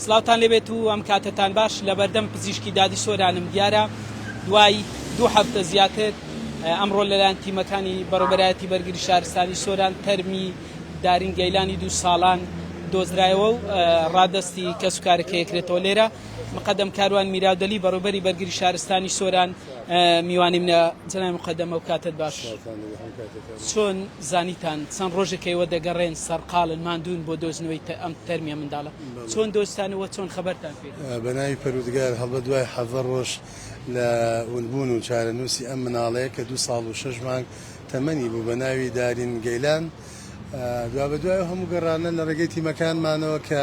سڵاوتان لێبێت و ئەم کاتەتان باش لە بەردەم پزیشکی دادی سۆرانم دیارە دوای دوو هەفتە زیاتر ئەمڕۆ لەلایەن تیمەکانی بەڕێبەرایەتی بەرگری شارستانی سۆران تەرمی دارین گەیلانی دوو ساڵان دۆزرایەوە و ڕادستی کەس و کارەکە یەکرێتەوە لێرە مقدم کاروان میراودەلی بەڕێبەری بەرگری شارستانی سۆران میوانی منە جنای مقدمە و کاتت باش چۆن زانیتان چەند ڕۆژێکە ئێوە دەگەڕێن سەرقاڵن ماندوون بۆ دۆزنەوەی ئەم تەرمیە منداڵە چۆن دۆزتان و چۆن خەبەرتان پێ کرد؟ بەناوی پەروردگار هەڵبەت دوای حەڤدە ڕۆژ لە ونبوون و چارەنووسی ئەم مناڵەیە کە دوو ساڵ و شەش مانگ تەمەنی بوو بەناوی دارین گەیلان دوابەدوای ئەو هەموو گەڕانە لە ڕێگەی تیمەکانمانەوە کە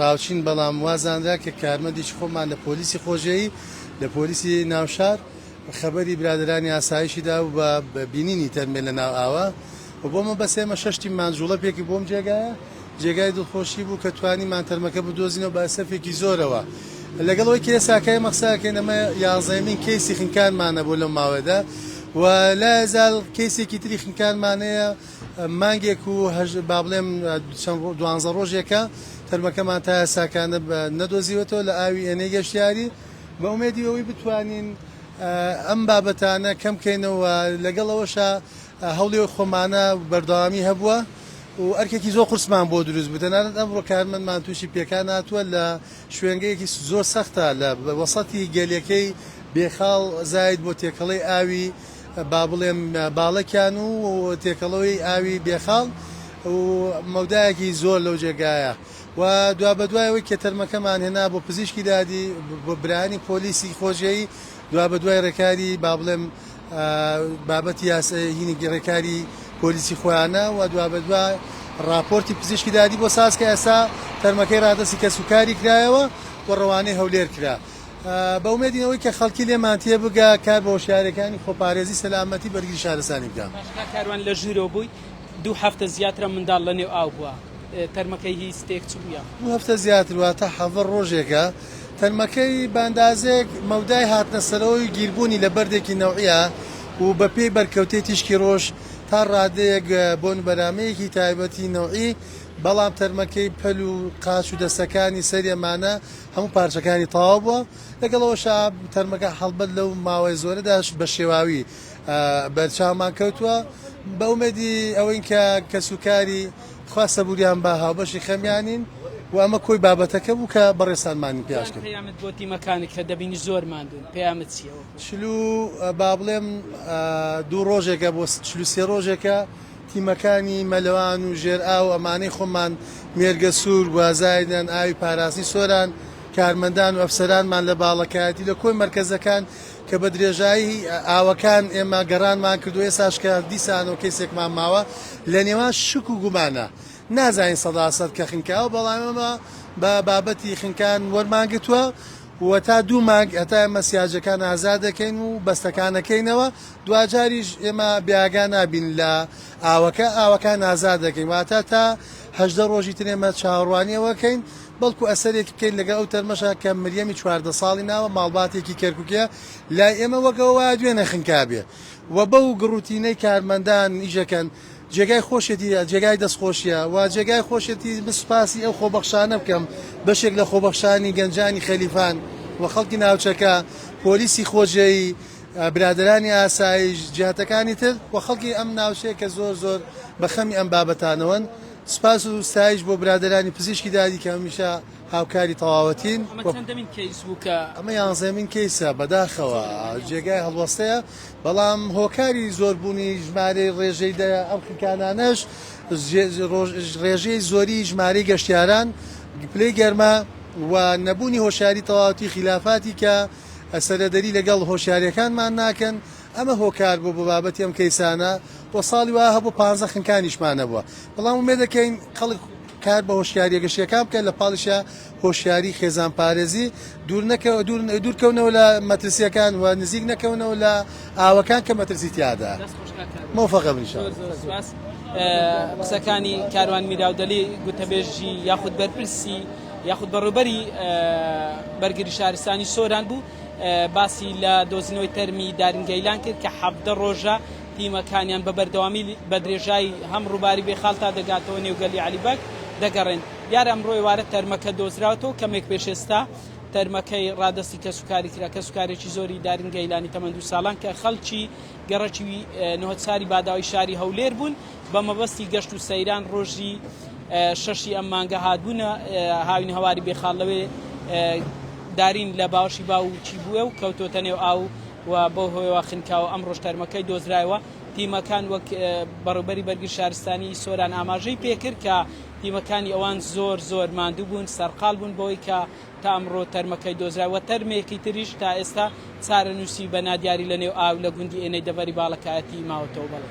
راوچین بەڵام وا زانرا کە کارمەندێکی خۆمان لە پۆلیسی خۆجێی لە پۆلیسی ناوشار خەبەری برادەرانی ئاسایشی دا و بە بینینی تەرمێ لە ناو ئاوە و بۆ مەبەست ئێمە شەش تیممان جوڵەپێکی بۆم جێگایە جێگای دڵخۆشی بوو کە توانیمان تەرمەکە بدۆزینەوە بە ئەسەفێکی زۆرەوە لەگەڵ ئەوەی کە ئێستا کە ئێمە قسە دەکەین ئەمە یازدەیەمین کەیسی خنکانمانە بۆ لەو ماوەیەدا و لایەزال کەیسێکی تری خنکانمان هەیە مانگێک و هەژد با بڵێم چەند ڕۆ دوانزە ڕۆژێکە تەرمەکەمان تا یاساکانە بە نەدۆزیوەتەوە لە ئاوی ئێنەی گەشتیاری بە ئومێدی ئەوەی بتوانین ئەم بابەتانە کەم کەینەوە لەگەڵ ئەوەشا هەوڵی خۆمانە بەردەوامی هەبووە و ئەرکێکی زۆر قورسمان بۆ دروست بوو تەنانەت ئەمڕۆ کارمەندمان تووشی پێکان هاتووە لە شوێنگەیەکی زۆر سەختە لە وەسەتی گەلێکەی بێخاڵ زاید بۆ تێکەڵەی ئاوی با بڵێم باڵەکیان و تێکەڵەوەی ئاوی بێخاڵ و مەودایەکی زۆر لەو جێگایە و دوابەدوای ئەوەی کە تەرمەکەمان هێنا بۆ پزیشکی دادی بۆ برایانی پۆلیسی خۆجێی دوابەدوای ڕێکاری با بڵێم بابەتی یاسایینی ڕێکاری پۆلیسی خۆیانە و دوابەدوا ڕاپۆرتی پزیشکی دادی بۆ ساز کە ئێستا تەرمەکەی ڕادەستی کەسوکاری کرایەوە و ڕەوانەی هەولێر کرا. بە ئومێدین ئەوەی کە خەڵکی لێمان تێ بگا کار بە هۆشیارێکانی خۆپارێزی سەلامەتی بەرگری شارستانی بکا. باشە کاک کاروان لە ژورۆ بووی دوو هەفتە زیاترە منداڵ لە نێو ئاو بووە تەرمەکەی هی ستێک چ بوو یاخود. دوو هەفتە زیاتر واتە حەڤە ڕۆژێکە تەرمەکەی بە ئەندازەیەک مەودای هاتنە سەرەوەی و گیربوونی لە بەردێکی نەوعیە و بە پێی بەرکەوتەی تیشکی ڕۆژ تا ڕادەیەک بۆن بەرامەیەکی تایبەتی نەوعی بەڵام تەرمەکەی پەل و قاچ و دەستەکانی سەرێمانە هەموو پارچەکانی تەواو بووە، لەگەڵ ئەوەشا تەرمەکە هەڵبەت لەو ماوەی زۆرەداش بە شێواوی بەرچاومان کەوتووە، بە ئومێدی ئەوەین کە کەس و کاری خوا سەبووریان با هاوبەشی خەمیانین و ئەمە کۆی بابەتەکە بوو کە بەڕێزتانمانی پیاش کرد. پەیامت بۆ تیمەکانت کە دەبینی زۆر ماندوون پەیامت چییە وەکو. چل و با بڵێم دوو ڕۆژێکە بۆ چل و سێ ڕۆژێکە تیمەکانی مەلەوان و ژێرئاو، ئەمانەی خۆمان، مێرگە سوور، گوازای نەن، ئاوی پاراستنی سۆران، کارمەندان و ئەفسەرانمان لە باڵەکایەتی لە کۆی مەرکەزەکان کە بە درێژایی ئاوەکان ئێمە گەڕانمان کرد و ئێستاش کە دیسانەوە کەیسێکمان ماوە لە نێوان شک و گومانە نازانین سەدا سەد کە خنکە ئاو بەڵام ئێمە بە بابەتی خنکان وەرمان گرتووە و تا دوو مانگ هەتا ئێمە سیاجەکان ئازاد دەکەین و بەستەکان ئەکەینەوە دواجاریش ئێمە بێئاگا نابین لە ئاوەکە، ئاوەکان ئازاد دەکەین، واتە تا هەژدە ڕۆژی تر ئێمە چاوەڕوانی ئەوە کەین بەڵکو ئەسەرێک بکەین لەگەڵ ئەو تەرمەشە کە مریەمی چواردە ساڵی ناوە ماڵباتێکی کەرکوکیە لای ئێمە وەک ئەوە وایە دوێ نەخنکابێ و بەو گڕوتینەی کارمەندان ئیشەکەن جێگای خۆشێتی جێگای دەستخۆشیە و جێگای خۆشێتی من سوپاسی ئەو خۆبەخشانە بکەم بەشێک لە خۆبەخشانی گەنجانی خەلیفان و خەڵکی ناوچەکە پۆلیسی خۆجێیی برادەرانی ئاسایش، جیهتەکانی تر و خەڵکی ئەم ناوچەیە کە زۆر زۆر بە خەمی ئەم بابەتانەوەن. سپاس و ستایش بۆ برادەرانی پزیشکی دادی کە هەمیشە هاوکاری تەواوەتین. ئەمە چەندەمین کەیس بوو کە. ئەمە یانزەمین کەیسە، بەداخەوە جێگای هەڵوەستەیە، بەڵام هۆکاری زۆربوونی ژمارەی ڕێژەی دە ئەم خنکانانەش ڕێژەی زۆری ژمارەی گەشتیاران، پلەی گەرما و نەبوونی هۆشیاری تەواوەتی خیلافاتی کە. سەرەدەری لەگەڵ هۆشیاریەکانمان ناکەن ئەمە هۆکار بوو بۆ بابەتی ئەم کەیسانە بۆ ساڵی وا هەبوو پانزە خنکانیشمان نەبووە بەڵام ومێ دەکەین خەڵک کار بە هۆشیاریە گەشتیەکان بکەن لە پاڵیشە هۆشیاری خێزان پارێزی دوور نەکەوە دوور دوورکەونەوە لە مەترسیەکان و نزیک نەکەونەوە لە ئاوەکان کە مەترسی تیادا مۆفەقە بن شاء الله. قسەکانی کاروان میراودەلی گوتەبێژی یاخود بەرپرسی یاخود بەڕێوبەری بەرگری شارستانی سۆران بوو باسی لە دۆزینەوەی تەرمی دارین گەیلان کرد کە حەبدە ڕۆژە تیمەکانیان بە بەردەوامی بە درێژایی هەم ڕووباری بێخال تا دەگاتەوە نێوگەلی علیبەگ دەگەڕێن دیار ئەمڕۆ ئێوارە تەرمەکە دۆزراوەتەوە کەمێک پێش ئێستا تەرمەکەی ڕادەستی کەسوکاری کرا کەسوکارێکی زۆری دارین گەیلانی تەمەند و ساڵان کە خەڵکی گەڕەکی نهۆدساری باداوی شاری هەولێر بوون بە مەبەستی گەشت و سەیران ڕۆژی شەشی ئەم مانگە هاتبوونە هاوین هەواری بێخاڵ لەوێ دارین لە باوەشی باوکی بووە و کەوتۆتە نێو ئاو و بۆ هۆیەوە خنکاوە ئەم ڕۆژ تەرمەکەی دۆزرایەوە تیمەکان وەک بەڕوبەری بەرگی شارستانی سۆران ئاماژەی پێکرد کە تیمەکانی ئەوان زۆر زۆر ماندوو بوون سەرقال بوون بەوەی کە تا ئەمڕۆ تەرمەکەی دۆزراوە تەرمێکی تریش تا ئێستا چارەنووسی بە نادیاری لە نێو ئاو لە گوندی ئێنەی دەڤەری باڵەکایەتی ماوەتەوە بەڵێ.